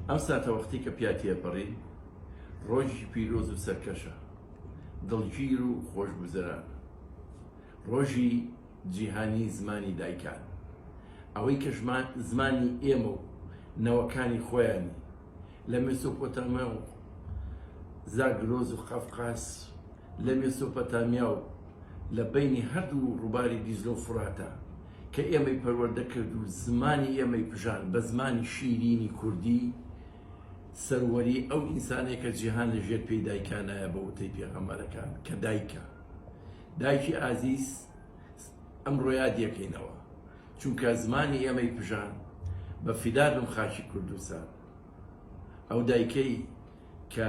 ئەم ساتەوەختەی کە پیا تێپەڕین ڕۆژی پیرۆز و سەرکەشە دڵگیر و خۆشگوزەران ڕۆژی جیهانی زمانی دایکان ئەوەی کە زمانی ئێمە و نەوەکانی خۆیانی لە مێسۆپۆتامیا و زاگرۆز و قەفقاس لە مێسۆپەتامیا و لە بینی هەردوو ڕووباری دیزلۆ فراتە کە ئێمەی پەروەردە کرد و زمانی ئێمەی پژاند بە زمانی شیرینی کوردی، سەروەری ئەو ئینسانەیە کە جیهان لە ژێر پێی دایکانایە بە وتەی پێغەمبەرەکان کە دایکە دایکی ئازیز ئەمڕۆ یادی ئەکەینەوە چونکە زمانی ئێمەی پژاند بە فیدا بم خاکی کوردستان ئەو دایکەی کە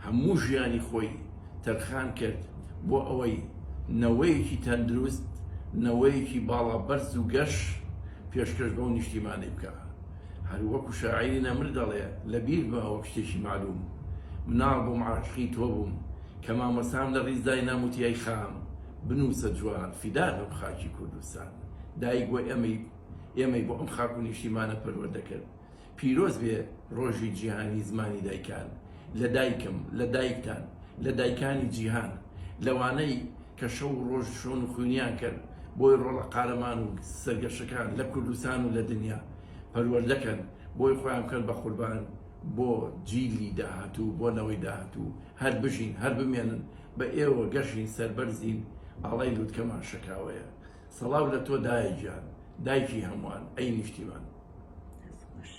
هەموو ژیانی خۆی تەرخان کرد بۆ ئەوەی نەوەیەکی تەندروست، نەوەیەکی باڵا بەرز و گەش پێشکەش بەو نیشتیمانەی بکا. هەر وەکو شاعیری نەمر دەڵێ، لە بیر بمە وەک شتێکی مەعلوم، مناڵ بووم عاشقی تۆ بووم، کە مامۆستام لە ڕیز داینام وتی ئەی خان، بنووسە جوان، فیدا بم خاکی کوردستان، دایک بۆ ئێمەی ئێمەی بۆ ئەم خاک و نیشتیمانە پەروەردە کرد، پیرۆز بێ ڕۆژی جیهانی زمانی دایکان لە دایکم لە دایکتان لە دایکانی جیهان لەوانەی کە شەو و ڕۆژ شۆن و خوینیان کرد بۆی ڕۆڵە قارەمان و سەرگەشەکان لە کوردستان و لە دنیا پەروەردە کەن بۆی خۆیان بکەن بە قوربان بۆ جیلی داهاتوو بۆ نەوەی داهاتوو هەر بژین هەر بمێنن بە ئێوە گەشین سەربەرزین ئاڵای لوتکەمان شەکاوەیە سەڵاو لە تۆ دایە گیان دایکی هەمووان ئەی نیشتیمان.